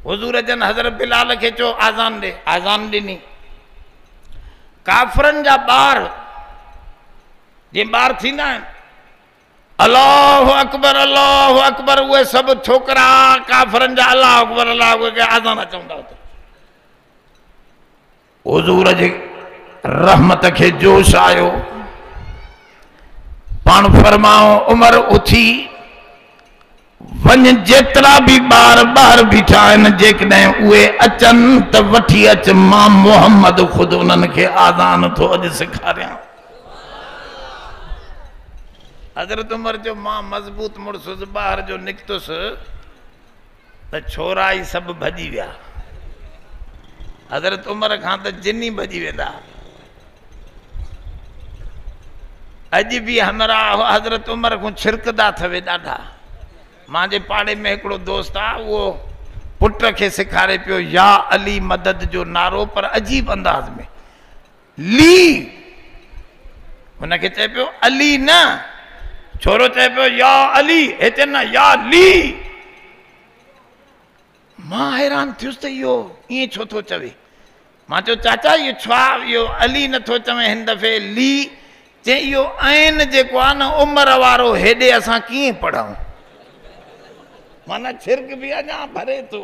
حضور جن حضرت بلال کي چيو آزان ڏي آزان ڏني کافرن جا ٻار جي ٻار ٿيندا آهن الله اڪبر الله اڪبر اهي سڀ ڇوڪرا ڪافرن جا الله اڪبر الله اڪبر آزان چوندا حضور جي رحمت کي جوش آيو، پاڻ فرمايو عمر اٿي وڃ جيترا به ٻار ٻاهر بيٺا آهن جيڪڏهن اهي اچن ته وٺي اچ مان محمد خود انهن کي آذان ٿو اڄ سيکاريان. حضرت عمر جو مان مضبوط مڙسس ٻاهر جو نڪتس. ته ڇورا ئي سڀ ڀڄي ويا. حضرت عمر کان ته جن ئي ڀڄي ويندا. اڄ به همراهه حضرت عمر کون ڇرڪدا ٿوي ڏاڍا. مانجي پاڙي ۾ هڪڙو دوست آ اهو پٽ کي سيکاري پيو يا علي مدد جو نعرو پر عجيب انداز ۾. لي هن کي چئي پيو علي نه ڇورو چئي پيو يا علي هتي نه يا لي مان حيران ٿيس ته اهو ائين ڇو ٿو چوي مان چيو چاچا اهو ڇا اهو علي نٿو چوي هن دفعي لي چي اهو عين جيڪو آ نه عمر وارو هيڏي اسان ڪيئن پڙهون مانا ڇرڪ به اڃا ڀري ٿو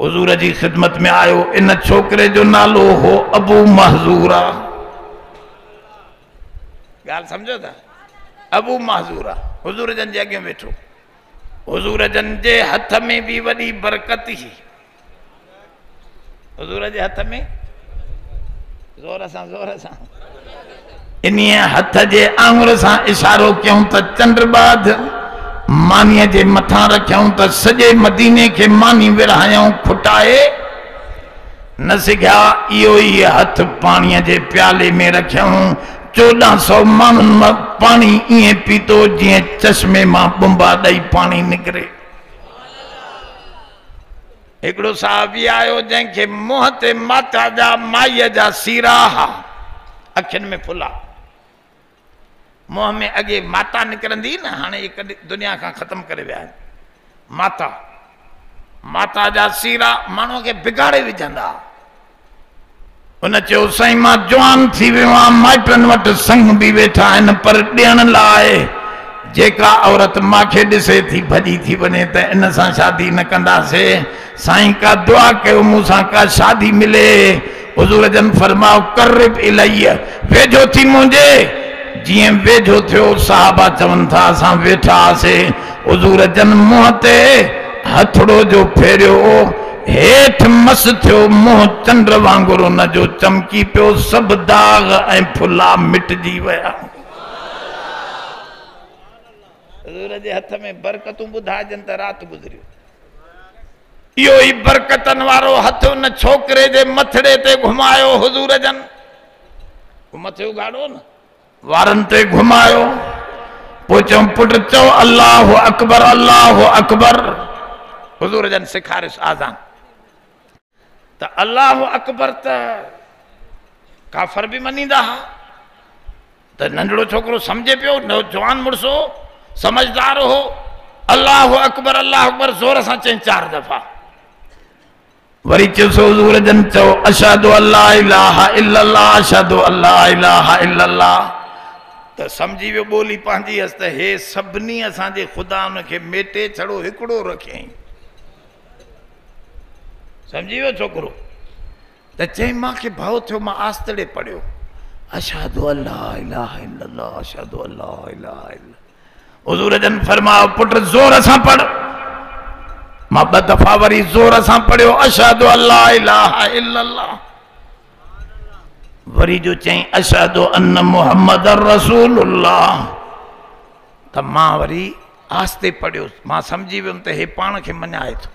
حضور جي خدمت ۾ آيو ان ڇوڪري جو نالو هو ابو محذورا ڳالهه سمجھو ٿا ابو محذورا حضور جن جي اڳيان ويٺو حضور جن جي هٿ ۾ به وڏي برڪت هي حضور جي هٿ ۾ زور سان زور سان انهيء هٿ جي آڱر سان اشارو ڪيائون ته چنڊ ٻاڌ مانيء جي مٿان رکيائون ته سڄي مديني کي ماني ورهايائون کوٽائي نه سگهيا. اهو ئي هٿ پاڻيء جي پيالي ۾ رکيائون. چوڏهن سؤ ماڻهن پاڻي ائين پيتو جيئن چشمي مان ٻنبا ڏئي پاڻي نڪري. هڪڙو صحابي آيو جنهن کي منهن تي ماتا جا مائيء جا سيرا ها، اکين ۾ ڦلا. منهن ۾ اڳي ماتا نڪرندي هئي نه، هاڻي اهي ڪڏهن دنيا کان ختم ڪري ويا آهن. ماتا، ماتا جا سيرا ماڻهوء کي بگاڙي وجهندا ها. هن چيو سائين مان جوان ٿي ويو آهيان مائٽن وٽ سڱ به ويٺا آهن پر ڏيڻ لاء جيڪا عورت ماکي ڏسي ٿي ڀڄي ٿي وڃي ته ان سان شادي نه ڪنداسي سائين ڪا دعا ڪيو مون سان ڪا شادي ملي حضور جن فرماء قرب الي ويجهو ٿي منهنجي جيئن ويجهو ٿيو صحابا چون ٿا اسان ويٺا هئاسي حضور جن منهن تي هٿڙو جو ڦيريو، هيٺ مس ٿيو، منهن چنڊ وانگر ان جو چمڪي پيو، سڀ داغ ۽ ڦلا مٽجي ويا. حضور جي هٿ ۾ برڪتون ٻڌائجن ته رات گذريو. اهو ئي برڪتن وارو هٿ ان ڇوڪري جي مٿڙي تي گهمايو حضور جن. مٿي اگهاڙو نه. وارن تي گهمايو پوء چيم پٽ چئو الله اڪبر الله اڪبر حضور جن سيکاريس آذان ته الله اڪبر ته ڪافر به منيندا ها ته ننڍڙو ڇوڪرو سمجهي پيو نوجوان مڙس هو سمجھدار هو الله اڪبر الله اڪبر زور سان چئين چار دفعا وري چيس حضور جن چئو اشھدو الا اله الا الله اشھدو الا اله الا الله ته سمجھي ويو ٻولي پنھنجي ھئس ته ھي سڀني اسان جي خدا ان کي ميٽي ڇڙو ھڪڙو رکيائين سمجھي ويو ڇوڪرو ته چئين مان کي ڀئو ٿيو مان آستڙي پڙھيو اشھدو الا اله الا الله اشھدو الا اله الا حضور جن فرمايو پٽ زور سان پڙھ مان ٻه دفعا وري زور سان پڙھيو اشھد الله الا الله وري جو چئين اشهد ان محمد رسول الله ته مان وري آهستي پڙهيوس مان سمجهي ويم ته هي پاڻ کي مڃائي ٿو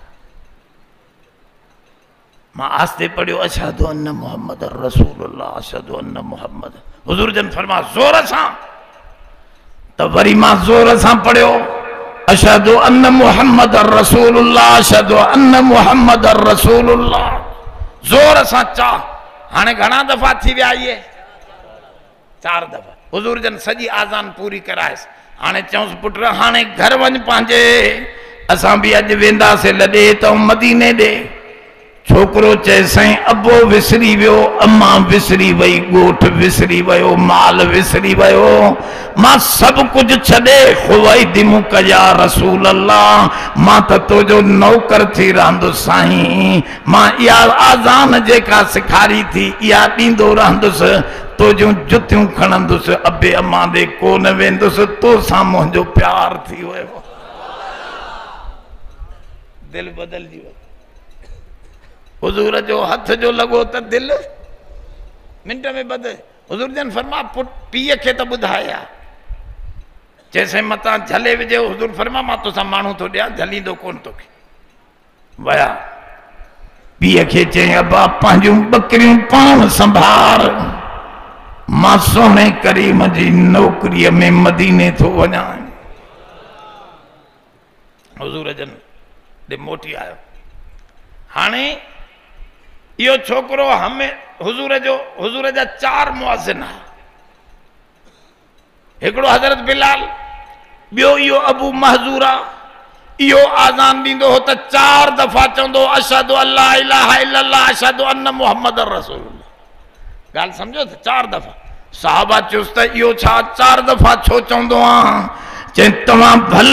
مان آهستي پڙهيو اشهد ان محمد رسول الله اشهد ان محمد حضور جن فرما زور سان ته وري مان زور سان پڙهيو اشهد ان محمد رسول الله اشهد ان محمد رسول الله زور سان چا هاڻي گهڻا دفعا ٿي ويا آهي چار دفعا حضور جن سڄي آذان پوري ڪرائيس هاڻي چيونس پٽ هاڻي گهر وڃ پنهنجي اسان به اڄ وينداسي لڏي ته مديني ڏي ڇوڪرو چئي سائين ابو وسري ويو اما وسري وئي ڳوٺ وسري ويو مال وسري ويو مان سڀ ڪجهه ڇڏي خوائي دي مون ڪيا رسول الله مان ته تو جو نوڪر ٿي رهندس سائين مان اها آذان جيڪا سکاري ٿي اها ڏيندو رهندس تو جون جتيون کڻندس ابي امان ڏي ڪو نه ويندس تو سان منهنجو پيار ٿي ويو دل بدلجي وئي حضور جو هٿ جو لڳو ته دل منٽ ۾ بدل حضور جن فرما پٽ پيء کي ته ٻڌايا چيسين متان جھلي وجھي حضور فرما مان توسان ماڻهو ٿو ڏيان جھليندو ڪون توکي ويا. پيء کي چيائين، ابا پنهنجون ٻڪريون پاڻ سنڀار، مان سهڻي ڪريم جي نوڪريء ۾ مديني ٿو وڃان. حضور جن ڏي موٽي آيو. هاڻي اهو ڇوڪرو حضور جو حضور جا چار مؤذن ها. هڪڙو حضرت بلال، ٻيو اهو ابو محذورا، اهو آذان ڏيندو هو ته چار دفعا چوندو هو اشهد ان لا اله الا الله اشهد ان محمد رسول الله ڳالهه سمجهو ته چار دفعا صحابه چيس ته اهو ڇا چار دفعا ڇو چوندو آهن چئي توهان ڀل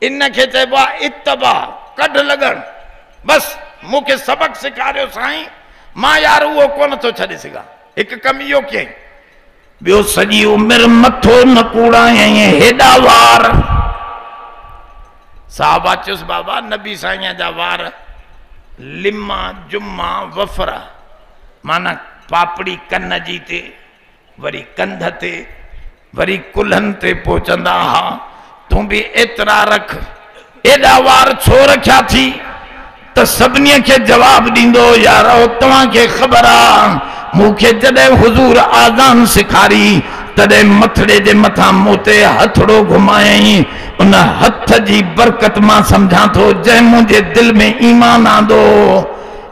ان کي چئبو آ اتباع، ڪڍ لڳڻ. بس مون کي سبق سيکاريو سائين، مان يار اهو ڪونه ٿو ڇڏي سگهان. هڪ ڪم اهو ڪيائين. ٻيو سڄي عمر مٿو نه ڪوڙايائين هيڏا وار. صحابه چيس بابا نبي سائين جا وار لما جما وفرا معنيٰ پاپڙي ڪن جي تي وري ڪنڌ تي وري ڪلهن تي پهچندا ها تون به ايترا رک ايڏا وار ڇو رکيا ٿي ته سڀني کي جواب ڏيندو يارو توهان کي خبر آ مون کي جڏهن حضور آذان سکاري تڏهن مٿڙي جي مٿان مون تي هٿڙو گهمايائين ان هٿ جي برڪت مان سمجهان ٿو جنهن منهنجي دل ۾ ايمان آندو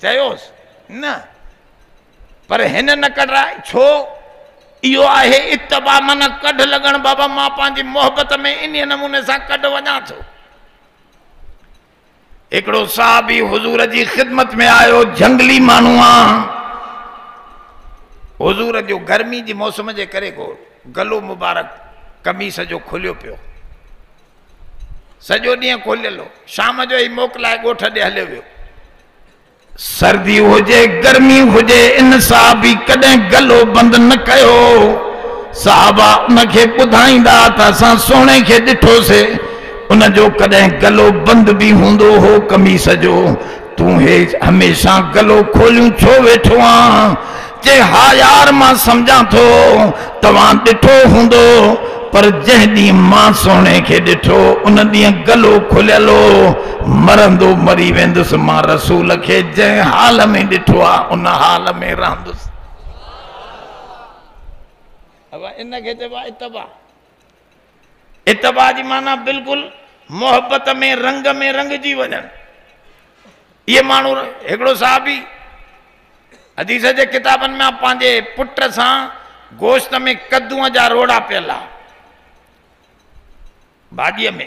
چيوس، نه، پر هن نه ڪڍرائي، ڇو؟ اهو آهي اتباع معنيٰ ڪڍ لڳڻ، بابا مان پنهنجي محبت ۾ انهيء نموني سان ڪڍ وڃان ٿو. هڪڙو صحابي حضور جي خدمت ۾ آيو، جهنگلي ماڻهو آ، حضور جو گرمي جي موسم جي ڪري گلو مبارڪ قميص جو کليو پيو. سڄو ڏينهن کوليل هو شام جو هي موڪلائي ڳوٺ ڏي هليو ويو سردي هجي گرمي هجي ان صاحب به ڪڏهن گلو بند نه ڪيو صاحب ان کي ٻڌائيندا ته اسان سهڻي کي ڏٺوسي ان جو ڪڏهن گلو بند به هوندو هو قميص جو تون هي هميشه گلو کوليون ڇو ويٺو آن؟ چي ها يار مان سمجهان ٿو توهان ڏٺو هوندو پر جنهن ڏينهن مان سهڻي کي ڏٺو ان ڏينهن گلو کليل هو مرندو مري ويندس مان رسول کي جنهن حال ۾ ڏٺو آ ان حال ۾ رهندس ابا ان کي چئبو آ اتباع اتباع جي معنيٰ بلڪل محبت ۾ رنگ ۾ رنگجي وڃڻ اهي ماڻهو هڪڙو صحابي حديث جي ڪتابن ۾ پنهنجي پٽ سان گوشت ۾ ڪدون جا روڙا پيل آ ڀاڄيء ۾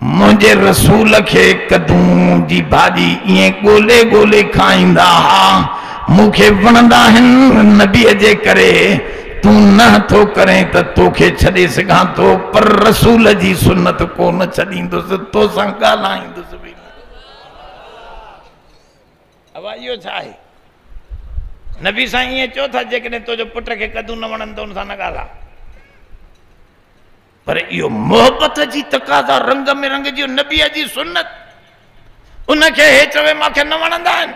منهنجي رسول کي ڪدون جي ڀاڄي ائين ڳولي ڳولي کائيندا ها، مون کي وڻندا آهن، نبيء جي ڪري تون نه ٿو ڪرين ته تو کي ڇڏي سگهان ٿو، پر رسول جي سنت ڪو نه ڇڏيندس، تو سان ڳالهائيندس به نه. ابا اهو ڇا آهي؟ نبي سان ائين چئو ٿا، جيڪڏهن تو جو پٽ کي ڪدون نه وڻندو ان سان نه ڳالهاء. پر اهو محبت جي تقاضا رنگ ۾ رنگجيو نبيء جي سنت ان کي هي چوي مان کي نه وڻندا آهن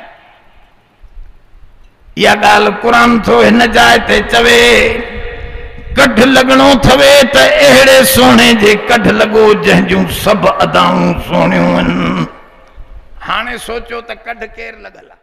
اها ڳالهه قرآن ٿو هن جاء تي چوي ڪڍ لڳڻو ٿوي ته اهڙي سهڻي جي ڪڍ لڳو جنهن جون سڀ ادائون سهڻيون آهن هاڻي سوچو ته ڪڍ ڪير لڳل آهي